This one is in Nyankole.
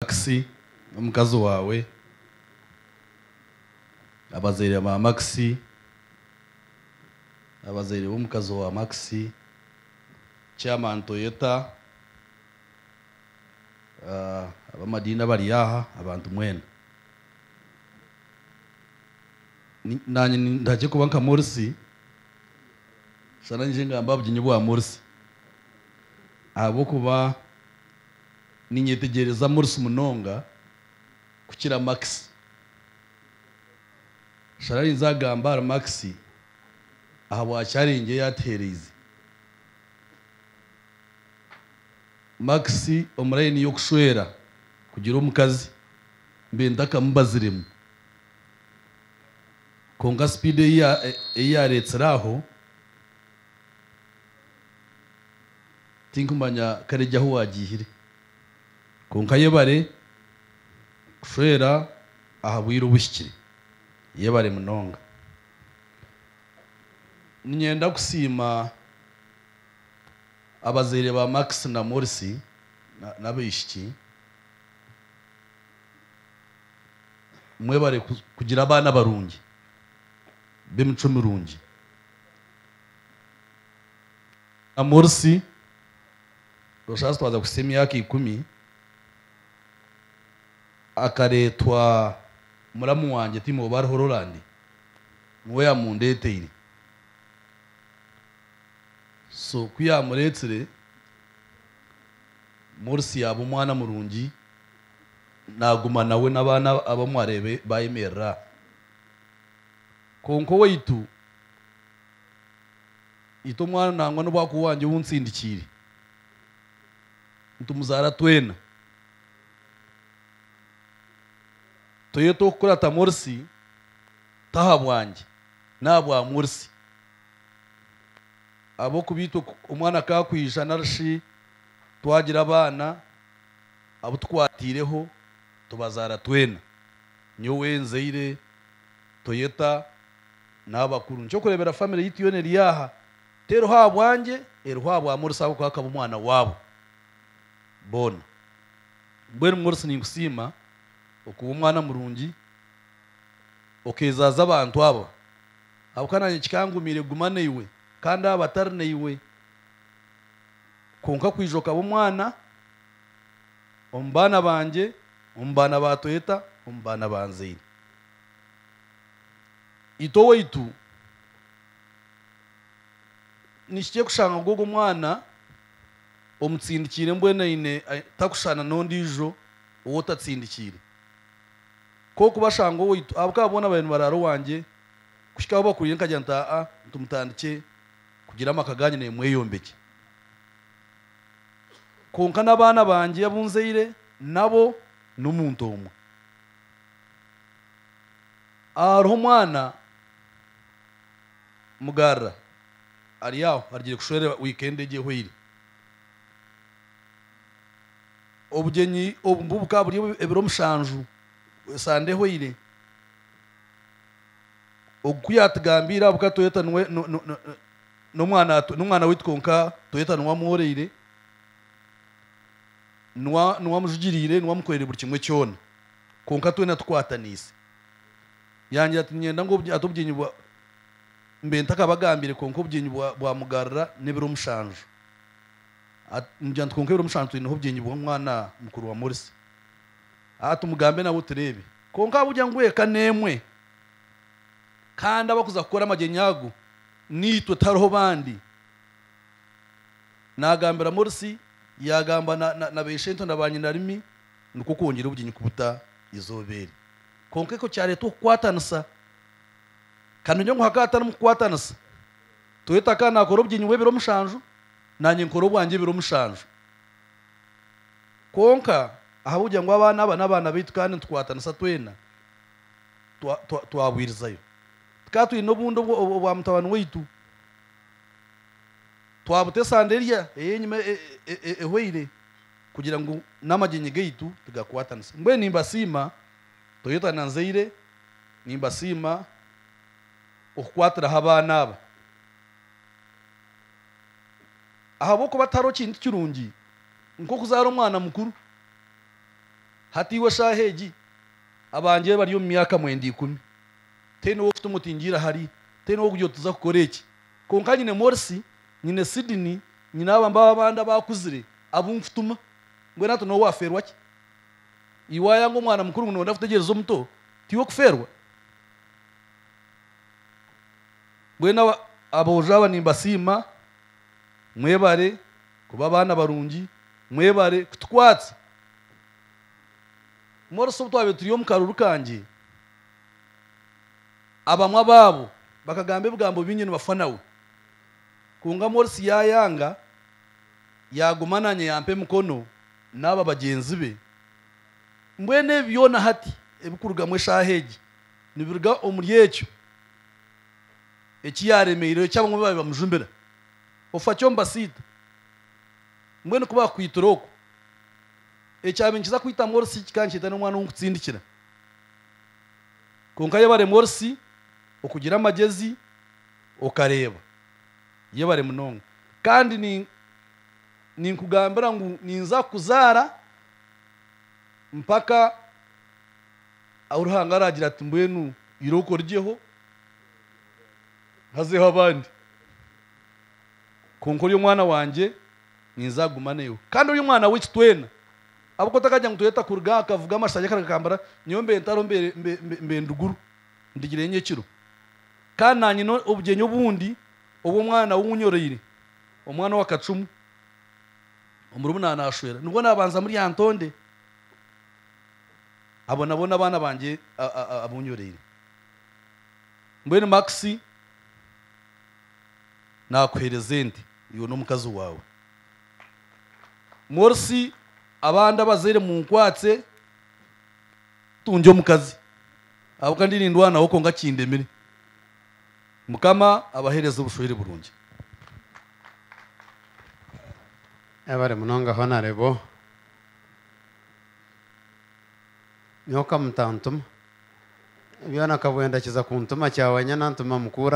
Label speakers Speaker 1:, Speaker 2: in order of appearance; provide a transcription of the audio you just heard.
Speaker 1: Makisi n'omukazi waawe, abazaire ba Makisi, abazaire b'omukazi wa Makisi, Chairman Toyota, ab'amadiini abari aha, abantu mwena. Naanye nintagye kuba nka Morsi, shana ngye ngambe aha buginyi bwa Morsi ahabw'okuba. ninyetegyereza Morris munonga kukira Max. Shana arinze agambe ahari Max ahabwa challenge ei atuhereize. Max omu layini y'okushwera kugira omukazi mbaire ntakamubaziremu. Kwonka speed ei yareetsire aho. Tinkumanya kare egyo ahu waagiihire. Kwonka yebare kushwera aha bwire obuhikire. Yebare munonga. Ninyenda kusiima abazaire ba Max na Morsi n'abaishiki. Mwebare kugira abaana barungi b'emicwe mirungi. na Morsi, nosha zitwaza kuhitsya emyaka ikumi, akaretwa muramu wangye Tim oba ari Horoland, niwe yamundeteire. So ku yamuretsire, Morsi yaba omwana murungi, naguma nawe n'abana abamwe arebe bayemerera. Konka owaitu. Nyita omwana nangwa n'obu akuba wangye ou ntsindikiire. Nitumuzaara twena. Toyeta okukurata Morsi, tahabwangye, n'ahabwa Morsi. Ahabw'okuba itwe omwana ku akwija nari shi twagira abaana abu tukwatiireho, tubazaara twena. Nyowe nzaire Toyeta. n'abakuru. Nikyokureebera famire yaitu yoona eri aha, teriho ahabwangye, eriho ahabwa Morsi ahabw'okuba akaba omwana waabo boona. Mbwenu Morsi ninkusiima okuba omwana murungi okeezaaza abantu aba, ahabw'okuba naanye kikangumiire kuguma naiwe kandi aba batari naiwe, kwonka kwija okaba omwana omu baana bangye, omu baana ba Toyota, omu baana ba nzaine. Itwe owaitu nikikye kushanga ngu ogwo mwana omutsindikiire mbwenu aine takushushana n'ondiijo ou otatsindikiire. Kwonka ku bashanga owaitu, ahabw'okuba boona baabaire nibaraara owangye, kuhika ahu bakuriire nkagira nti, Aa-a, nti mutandikye kugira amaka gaanyu naimwe mweyombekye. Kwonka n'abaana bangye abu nzaire nabo n'omuntu omwe. Hariho omwana mugarura ari aho arugire kushwerera wikendi egi ehweire. Obugyenyi obu nibu bukaba buri ebiro mushanju esande ehweire. Ogu ku yaatugambiire ahabw'okuba Toyota niwe n'omwana waitu kwonka Toyota niwe amworeire. niwe amujugiriire, niwe amukoreire buri kimwe kyona kwonka twena tukwataniise. Yangira ati, Niinyenda ngu ati obugyenyi bwa mbe ntakabagambiire kwonka obugyenyi bwamugarura n'ebiro mushanju. Nigira nti, Kwonka ebiro mushanju twineho obugyenyi bw'omwana mukuru wa Morsi. Ati, Tumugambe nawe tureebe. Kwonka ahabw'okugira ngu eka n'emwe kandi abarikuza kukora amagyenyi ago niitwe tihariho bandi, Naagambira Morsi, yaagamba na, na, na beishento na baanyinarimi, nikwo kwongyera obugyenyi kubuta eizooba eri. Kwonka ekyo kyareeta okukwatanisa. Kandi nyowe ngu hakaba hatarimu kukwatanisa, Toyota akaba naakora obugyenyi bw'ebiro mushanju, naanye nkore obwangye ebiro mushanju. Kwonka, ahabw'okugira ngu abaana aba n'abaana baitu kandi nitukwatanisa twena, twa, twa, twabwirizayo. Tukaba twine obundi obwa, obwa mutabani waitu. Twabuta esande erya ey'enyima ehweire kugira ngu n'amagyenyi gaitu tigakwatanisa. Mbwenu nimbasiima Toyota na Nzeire, nimbasiima okukwatiraho abaana aba. Ahabw'okuba tihariho kintu kirungi nk'okuzaara omwana mukuru. Hati iwe shaaha egi abangye bari omu myaka mwenda ikumi. Teine w'okutuma oti ngiire ahari, teine w'okugira oti za kukora eki. Kwonka nyine Morsi, nyine Sidini, nyine aba mbaba abandi abaakuzire abu nkutuma. Mbwenu hati noowe waafeerwa ki? Iwe waayanga omwana mukuru ngu nooyenda kutegyereza omuto, tiwe okufeerwa? Mbwenu aba, aboojo aba nimbasiima. Mwebare kuba abaana barungi. Mwebare kutukwatsa. Morsi obu twabaire turi omu karuru kangye, Abamwe abaabo bakagamba ebigambo bingi nibafa nawe. Kwonka Morsi yaayanga, yaaguma naanye yampa emikono n'aba bagyenzi be. Mbwenu ebi byona hati ebirikurugamu eshaaha egi nibiruga omuri ekyo eki yaaremeireho eki abamwe baabaire bamujumbira. Ofa ki omu basiita? Mbwenu ku baakukwitire okwo, ekyaaba nikiza kwita Morsi kikaba nikyeta n'omwana ou nkutsindikira. Kwonka yebaremwa orsi okugira amagezi okareba. Yebare munonga kandi ni ninkugambira ngu ninza kukuzara mpaka ahu Ruhanga aragira ati mbwenu iroka origyeho hazeho abandi. Kwonka ori omwana wangye ninza kuguma naiwe kandi ori omwana waitu twena. Ahabw'okuba takagira ngu tweeta kuruga aha kavuga amashaari akara gakambara, nyowe mbaire ntariho mbaire ndi guru ndigireyo nyekiro. Kandi naanyine obugyenyi obundi obw'omwana ou nyoreire, omwana owa kacumu, omurumuna naashwera nibwo naabanza muri aha ntonde. Abo nabo n'abaana bangye abu nyoreire. Mbwenu Max naakuheereza ente iwe n'omukazi waawe. Morsi abandi abazaire munkwatse tungye omukazi ahabwokuba ndi nindwanaho kwonka kindemire. Mukama abahereze obushwere burungi. Yebare munonga Honarebo. Nyowe kamutantuma. Byona kabwenda kiza kuntuma kyawanya nantuma mukuru.